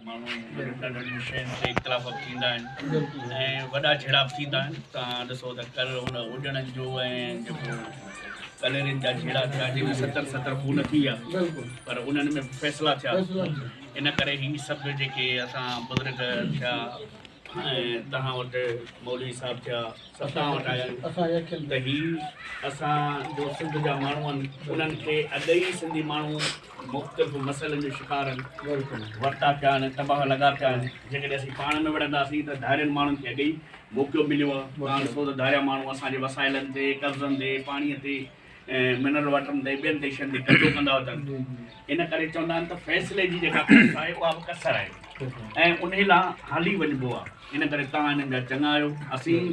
ماڻهو جڏهن ننڍڙين شين تي اختلاف ٿيندا آهن ۽ وڏا جهيڙا به ٿيندا آهن تان ڏسو ته ڪل هن اڏڻن جو ۽ جيڪو ڪليرين جا جهيڙا ٿيا جن ۾ ستر ستر خون ٿي ويا پر انهن ۾ به فيصلا ٿيا ان ڪري هي سڀ جيڪي اسان بزرگ ٿيا ۽ توهان وٽ مولوي صاحب ٿيا سڀ توهان وٽ آيا آهن ته هي اسان جو سنڌ جا ماڻهو آهن انهن کي اڳ ئي سنڌي ماڻهو مختلف مسئلن جو شڪار ورتا پيا آهن ۽ تباهه لڳا پيا آهن جيڪڏهن اسين پاڻ نه وڙهنداسين ته ڌارين ماڻهن کي اڳي ئي موقعو مليو آهي تان ڏسو ته ڌاريا ماڻهو اسان جي وسائلن تي قبضن تي پاڻي تي منرل واٽرن تي ٻين تي شين تي قبضو ڪندا اچن ان ڪري چوندا آهن ته فيصلي جي جيڪا ڪوشش آهي اها به ڪسر آهي ۽ انهي لا هلي وڃبو آهي ان ڪري تان هنن جا چڱا آهيو اسين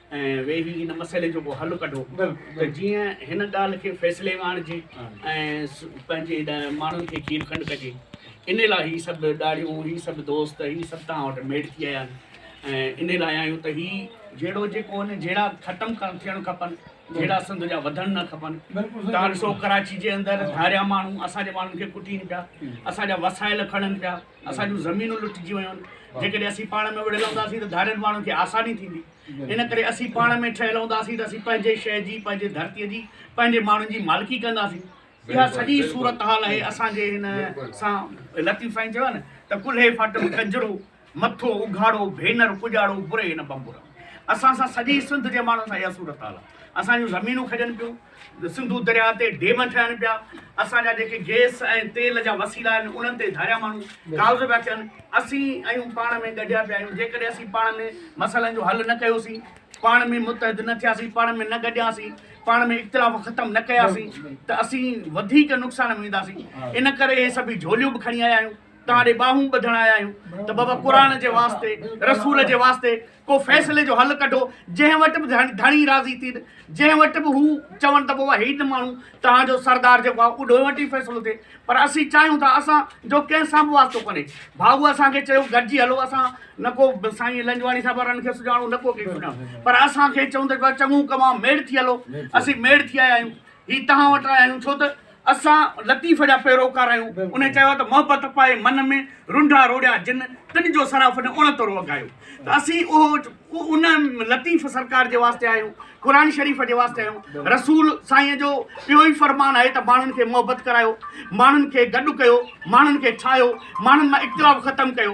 ۽ ويهي هن مسئلي جو ڪو حل ڪڍو ته جيئن هن ڳالهه کي فيصلي ۾ آڻجي ۽ پنهنجي هيڏانهن ماڻهن کي کير کنڊ ڪجي ان لاء هي سڀ ڏاڙهيون هي سڀ دوست هي سڀ توهان وٽ ميڙ ٿي آيا آهن ۽ ان لاء آيون ته هي جهيڙو جيڪو آهن جهيڙا ختم ڪرڻ ٿيڻ کپن جهيڙا سنڌ جا وڌڻ نه کپن تان سو ڪراچي جي اندر ڌاريا ماڻهو اسان جي ماڻهن کي ڪٽين پيا اسان جا وسائل کڻن پيا اسان جون زمينون لٽجي ويون آهن جيڪڏهن اسين پاڻ ۾ وڙهيل هونداسين ته ڌارين ماڻهن کي آساني ٿيندي ان ڪري اسين پاڻ ۾ ٺهيل هونداسين ته اسين پنهنجي شهر جي پنهنجي ڌرتيء جي پنهنجي ماڻهن جي مالڪي ڪنداسين اها سڄي صورتحال آهي اسان جي هن سان لطيف سائين چيو نه ته ڪلهي ڦٽ ڪنجرو مٿو اگهاڙو ڀينر پڄاڙو بري هن بمبورا اسان سان سڄي سنڌ جي ماڻهن سان اها صورتحال آهي اسان جون زمينون کڄن پيون سنڌو درياهه تي ڊيم ٺهن پيا، اسان جا جيڪي گئس ۽ تيل جا وسيلا آهن، انهن تي ڌاريا ماڻهو قابض پيا ٿين. اسين ايون پاڻ ۾ ڳنڍيا پيا آهيون. جيڪڏهن اسين پاڻ ۾ مسئلن جو حل نه ڪيوسين، پاڻ ۾ متحد نه ٿياسين، پاڻ ۾ نه ڳنڍياسين، پاڻ ۾ اختلاف ختم نه ڪياسين ته اسين وڌيڪ نقصان ۾ وينداسين. ان ڪري اهي سڀيئي جهوليون به کڻي آيا آهيون، توهان ڏي ٻانهون ٻڌڻ آيا آهيون ته بابا قرآن جي واسطي، رسول جي واسطي، ڪو فيصلي جو حل ڪڍو جنهن وٽ به ڌڻي راضي ٿين جنهن وٽ به هو چون ته بابا هي ته ماڻهو توهان جو سردار جيڪو آهي اڏو وٽ ئي فيصلو ٿئي پر اسين چاهيون ٿا اسان جو ڪنهن سان به واسطو ڪونهي ڀاوو اسان کي چيو گڏجي هلو اسان نه کو سائين لنجواڻي صاحب وارن کي سڃاڻو نه ڪو ڪنهن کي سڃاڻو پر اسان کي چون ته چڱو ڪم آهي ميڙ ٿي هلو اسين ميڙ ٿي آيا آهيون هي توهان وٽ آيا آهيون ڇو ته اسان لطيف جا پيروڪار آهيون. انهيء چيو ته محبت پائي من ۾، رنڊا روڙيا جن، تن جو صراف نه اڻتو رو اگهايو. ته اسين اهو ان لطيف سرڪار جي واسطي آهيون، قرآن شريف جي واسطي آهيون. رسول سائينء جو اهو ئي فرمان آهي ته ماڻهن کي محبت ڪرايو، ماڻهن کي گڏ ڪيو، ماڻهن کي ٺاهيو، ماڻهن مان اختلاف ختم ڪيو.